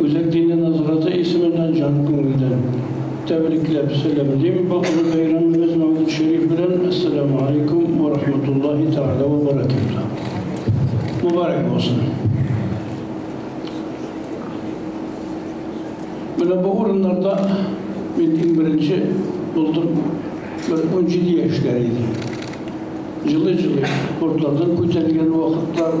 Үзәк дине назараты исеменнән җан күңелдән тәбрикләп сәламлим, бу олы бәйрәмебез мәүлид-шәриф белән, Әссәләмү алейкум вә рахматуллаһи тәгалә вә бәрәкәтүһ! Мөбарәк булсын! Менә бу урыннарда мин иң беренче булдым, бер унҗиде яшьләр иде. Җылый-җылый, кортлардан күтәрелгән вакытлар.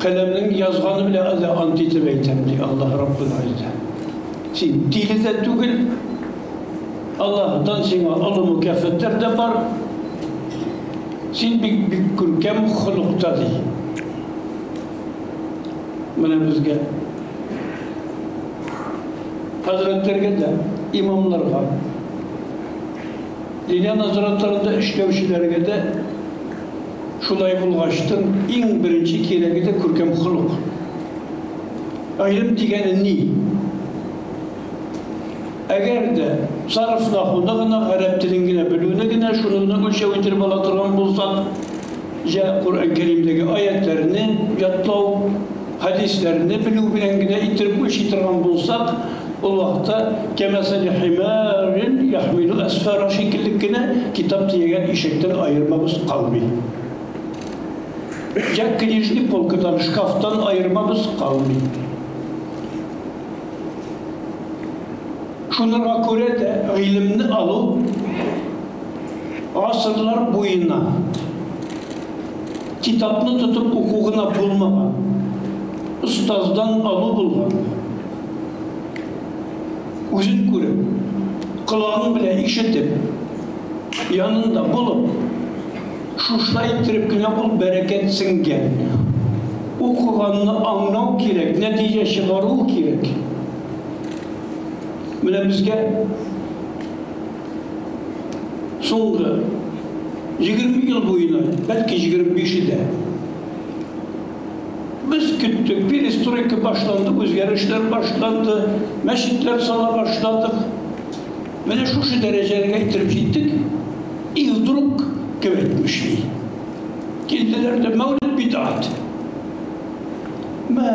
Каләмнең язганы белә дә ант итеп әйтәм, ди Аллаһ Раббул Гыйззә. Син тиле дә түгел. Аллаһтан сиңа олы мөкафәтләр дә бар. Син бик бик күркәм холыкта ди. Менә безгә хәзрәтләргә дә, имамларга, Ленин назаратларында эшләүчеләргә дә Шулай булгач тын, иң беренче кирәге дә күркәм холык. Гыйлем дигәне ни? Әгәр дә сарыф нахуны гына, гарәп телен генә белүне генә, шуны гына үлчәү иттереп ала торган булсак, җә Коръән Кәримдәге аятьләрне ятлау, Хәдисләрне белү белән генә иттереп үлчи торган булсак, ул вакытта кәмәсәли химарин яхмилу әсфара шикелле кенә китап төягән ишектән аермабыз калмый. Йә книжный полкадан, шкафтан аермабыз калмый. Шунырга күрә дә гыйлемне алу гасырлар буена. Китапны тотып уку гына булмаган, остаздан алу булган. Үзен күреп, колагың белән ишетеп, янында булып, шушылай иттереп кенә ул бәрәкәт сеңгән. Укыганны аңлау кирәк, нәтиҗә чыгару кирәк. Менә безгә Соңгы егерме ел буена, бәлки егерме биш дә, без көттек, перестройка башланды, үзгәрешләр башланды, мәчетләр сала башладык. Менә шушы дәрәҗәгә китереп җиттек, и вдруг кем әйтмешли. Килделәр дә мәүлид бидат. Мә,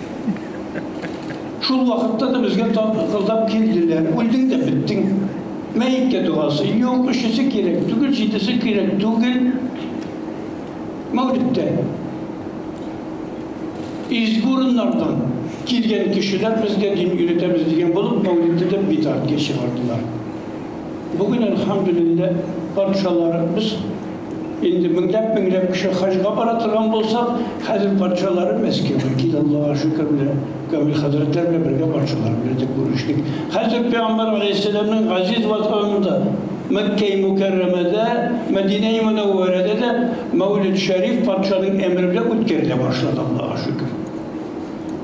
Шул вакытта да безгә тагылдап килделәр. Үлдең дә беттең. Мәеткә догасы юк, өчесе кирәк түгел, җидесе кирәк түгел. Мәүлиттә изге урыннардан килгән кешеләр безгә дин өйрәтәбез дигән булып мәүлидтә дә битартка чыгардылар. Бүген, әлхәмдүлиллә, патшалары без Инде меңләп-меңләп кеше хаҗга бара торган булса, хәзер патшалары Мәскәүгә килә, Аллага шөкер, менә Камил хәзрәтләр белән бергә патшалар белән дә күрештек. Хәзер пәйгамбәр галәйһиссәламнең газиз ватанында, Мәккәи Мөкәррәмәдә, Мәдинәи Мөнәввәрәдә дә Мәүлид-Шәриф патшаның әмере белән үткәрелә башлады, Аллага шөкер.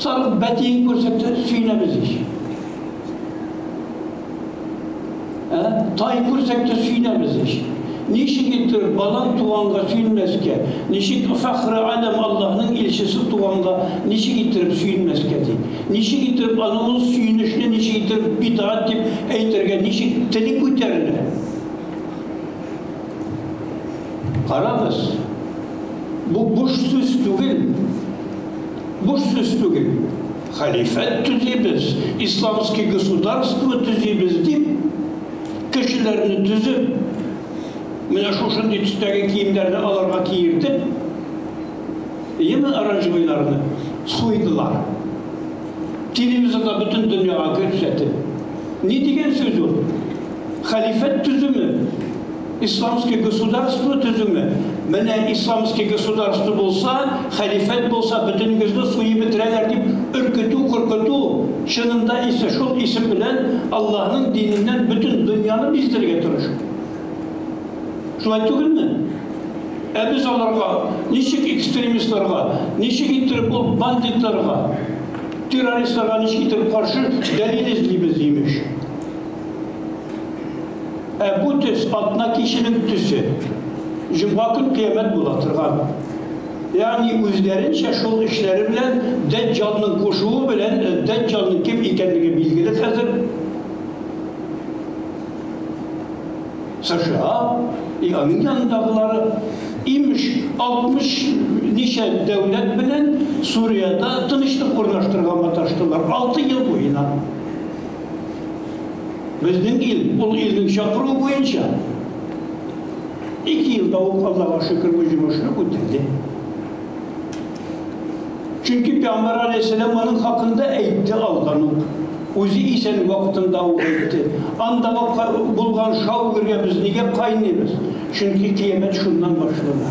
Сарык бәтиен күрсәтте, сөенәбез ич. Ә? Тай күрсәтте, сөенәбез ич. Ничек итер балан туганга сөенмәскә? Ничек фәхре алем Аллаһның илчесе туганга ничек иттереп сөенмәскә ди? Ничек иттереп аны ул сөенечне ничек иттереп бидгать дип әйтергә ничек теле күтәрелә? Карагыз, бу буш сүз түгел. Буш сүз түгел. Халифәт төзибез, исламский государство төзибез дип, кешеләрне төзеп, менә шушындый төстәге киемнәрне аларга киертеп, яме оранжевыйларны суйдылар. Телевизорда бөтен дөньяга күрсәтеп. Ни дигән сүз ул? хәлифәт төзүме, исламский государство төзүме? Менә исламский государство булса, хәлифәт булса, бөтенегезне суеп бетерәләр дип өркетү, куркыту, чынында исә шул исем белән Аллаһының диненнән бөтен дөньяны биздерергә тырышу. Шулай түгелме? Ә без аларга ничек экстремистларга, ничек иттереп ул бандитларга, террористларга ничек иттереп каршы дәлил эзлибез, имеш. Ә бу төс атна киченең төсе. Җомга көн кыямәт була торган. Ягъни үзләренчә шул эшләре белән Дәҗҗалның кушуы белән э, Дәҗҗалның кем икәнлеге билгеле хәзер. США и аның янындагылары имеш 60 ничә дәүләт белән Суриядә тынычлык урнаштырырга маташтылар 6 ел буена. Безнең ил, ул илнең чакыруы буенча, ике елда ук Аллага шөкер бу җомышны үтәде. Чөнки Пәйгамбәр алейһиссәлам аның хакында әйтте алдан ук. Үзе исән вакытында ук әйтте. Анда булган шау-гөргә без нигә кайнымыз? Чөнки кыямәт шуннан башлана.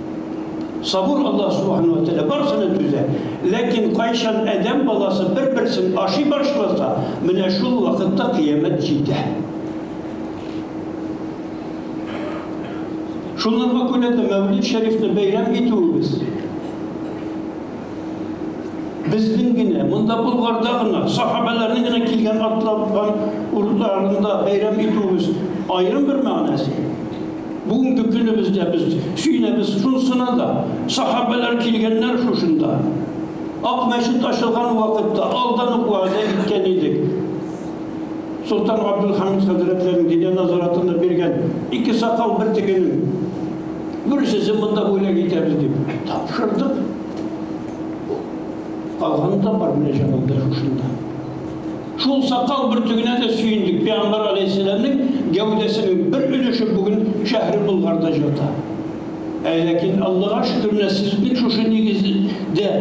Сабур Аллаһ Субхана ва Тәгалә барсына түзә. Ләкин кайчан адәм баласы бер-берсен ашый башласа, менә шул вакытта кыямәт җитә. Шуларга күрә дә Мәүлид Шәрифне бәйрәм итүебез безнең генә, монда Болгарда гына, сахабәләрнең генә килгән атлапкан урыннарында бәйрәм итүебез аерым бер мәгънәсе. Бүгенге көнебездә без сөенәбез шунысына да, сахабәләр килгәннәр шушында. Ак мәчет ачылган вакытта алдан ук вәгъдә иткән идек. Солтан Габдулхамид хәзрәтләрен дине назаратына биргән ике сакал бер тегенең берсесе монда бүләк итәбез дип тапшырдык. Калганы да бар менә җанында шушында. Шул сакал бөртегенә дә сөендек, пәйгамбәр галәйһиссәламнең гәүдәсенең бер өлеше бүген шәһри Болгарда җата. Ә ләкин, Аллага шөкер, нәселебезнең шушы нигездә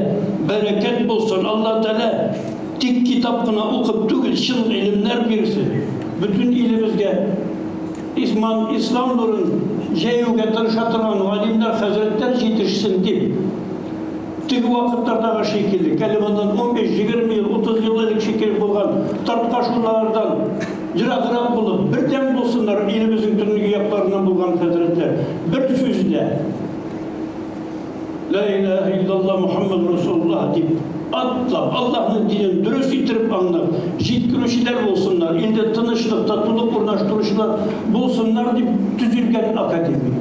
бәрәкәт булсын, Алла Тәгалә тик китап кына укып түгел, чын гыйлемнәр бирсен, бөтен илебезгә исман, ислам нурын җәюгә тырыша торган галимнәр, хәзрәтләр җитешсен, дип. Теге вакытлардагы шикеллек, әле моннан унбиш, егерме ел, утыз ел элек шикеллек булган тарткашулардан ераграк булып, бердәм булсыннар илебезнең төнге якларыннан булган хәзрәтләр. Бер сүз дә, Лә иләһә иллалла Мухаммәд Расулуллаһ дип атлап, Аллаһның динен дөрес иттереп аңлап җиткерүчеләр булсыннар, илдә тынычлык, татулык урнаштыручылар булсыннар дип төзелгән академия.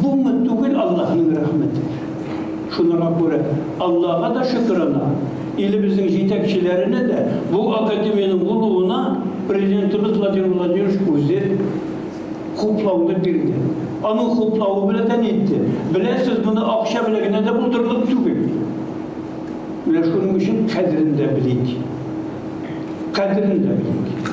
Гоммәт түгел Аллаһның рәхмәте. Шуныңа күрә Аллага да шөкерана, илебезнең җитәкчеләренә дә бу академиянең булуына Президентыбыз Владимир Владимирович үзе хуплауны бирде. Аның хуплавы белән дә нитте. Беләсез, моны акча белән генә дә булдырырлык түгел. Менә шуның өчен кадерен дә белик. Кадерен дә белик.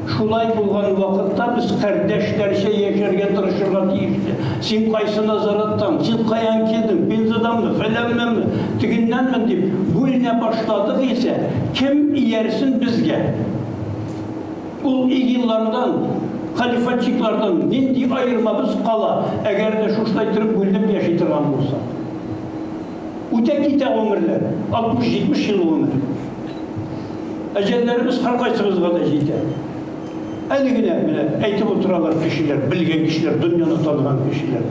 Шулай булган вакытта без кардәшләрчә яшәргә тырышырга тиеш тә. Син кайсы назараттан, син каян килдең, Пензаданмы, фәләннәнме, тегеннәнмен дип бүленә башладык исә, кем иярсен безгә? Ул игиллардан, халифатчиклардан нинди аермабыз кала, әгәр дә шушылай торып бүленеп яши торган булсак? Үтә китә гомерләр, 60-70 ел гомер. Әҗәлләребез һәркайсыбызга да җитә. Әле генә менә әйтеп утыралар кешеләр, белгән кешеләр, дөньяны таныган кешеләр.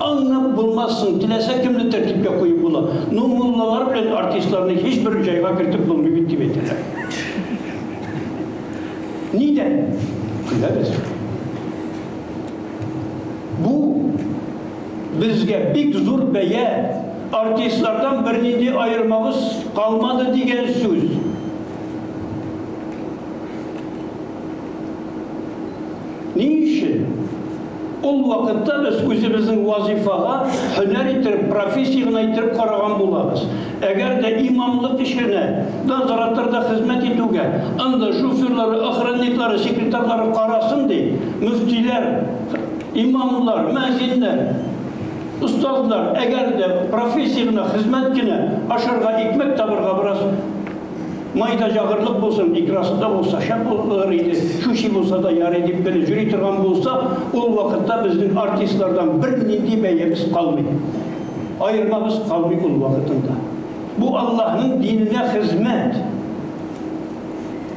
Аңнап булмассың, теләсә кемне тәртипкә куеп була. Ну, муллалар белән артистларны һичбер җайга кертеп булмый бит дип әйтәләр. Нидән? Көләбез. Бу Безгә бик зур бәя, артистлардан бернинди аермабыз калмады дигән сүз. Ни өчен? Ул вакытта без үзебезнең вазыйфага һөнәр иттереп, профессия гына иттереп караган булабыз. Әгәр дә имамлык эшенә, надзораторда хезмәт итүгә, анда шоферлары, охранниклары, секретарьлары карасын ди, мөфтиләр, Имамлар, мөәзиннәр, остазлар, әгәр дә профессия гына, хезмәт кенә, ашарга, икмәк табырга бераз май да җагырлык булсын, икрасы да булса шәп булыр иде, чүчи булса да ярый дип кенә йөри торган булса, ул вакытта безнең артистлардан бернинди бәябез калмый. Аермабыз калмый ул вакытында. Бу Аллаһның диненә хезмәт.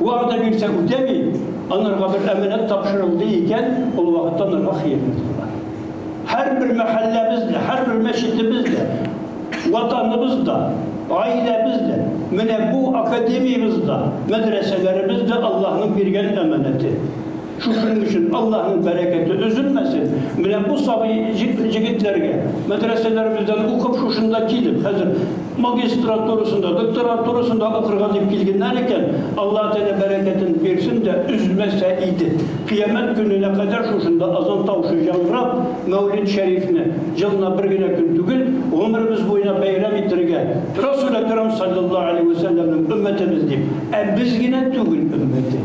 Вәгъдә бирсә үтәми, анарга бер әманәт тапшырылды икән, ул вакытта анарга хыянәт кылган. Һәрбер мәхәлләбез дә, һәрбер мәчетебез дә, Ватаныбыз да, гаиләбез дә, менә бу академиябез дә, мәдрәсәләребез дә Аллаһның биргән әманәте. Шушының өчен Аллаһның бәрәкәте өзелмәсен. Менә бу сабый җегетләргә, мәдрәсәләребездән укып, шушында килеп, хәзер магистратурасында, докторантурасында укырга дип килгәннәр икән, Аллаһ Тәгалә бәрәкәтен бирсен дә, өзмәсә иде. Кыямәт көненә кадәр шушында азан тавышы яңгырап, Мәүлид Шәрифне, елына бер генә көн түгел, гомеребез буена бәйрәм итәргә, Расүл Әкрам салләллаһу галәйһи вә сәлләмнең өммәтебез дип, ә без генә түгел, өммәте.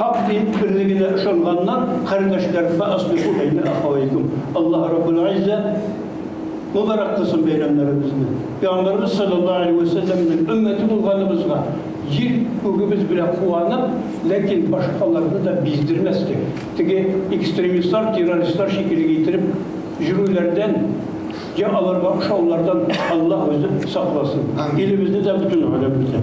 Хак дин берлегенә ышанганнар, кардәшләр, фа аслиху бәйнә ахавәйкүм. Аллаһ Раббул Гиззә мөбарәк кылсын бәйрәмнәребезне. Пәйгамбәребез саллаллаһу алейһи вә сәлләмнең өммәте булганыбызга җир күгебез белән куанып, ләкин башкаларны да биздермәскә, теге экстремистлар, террористлар шикелле иттереп йөрүләрдән, йә аларга ошаулардан Аллаһ үзе сакласын. Илебезне дә, бөтен галәмне дә.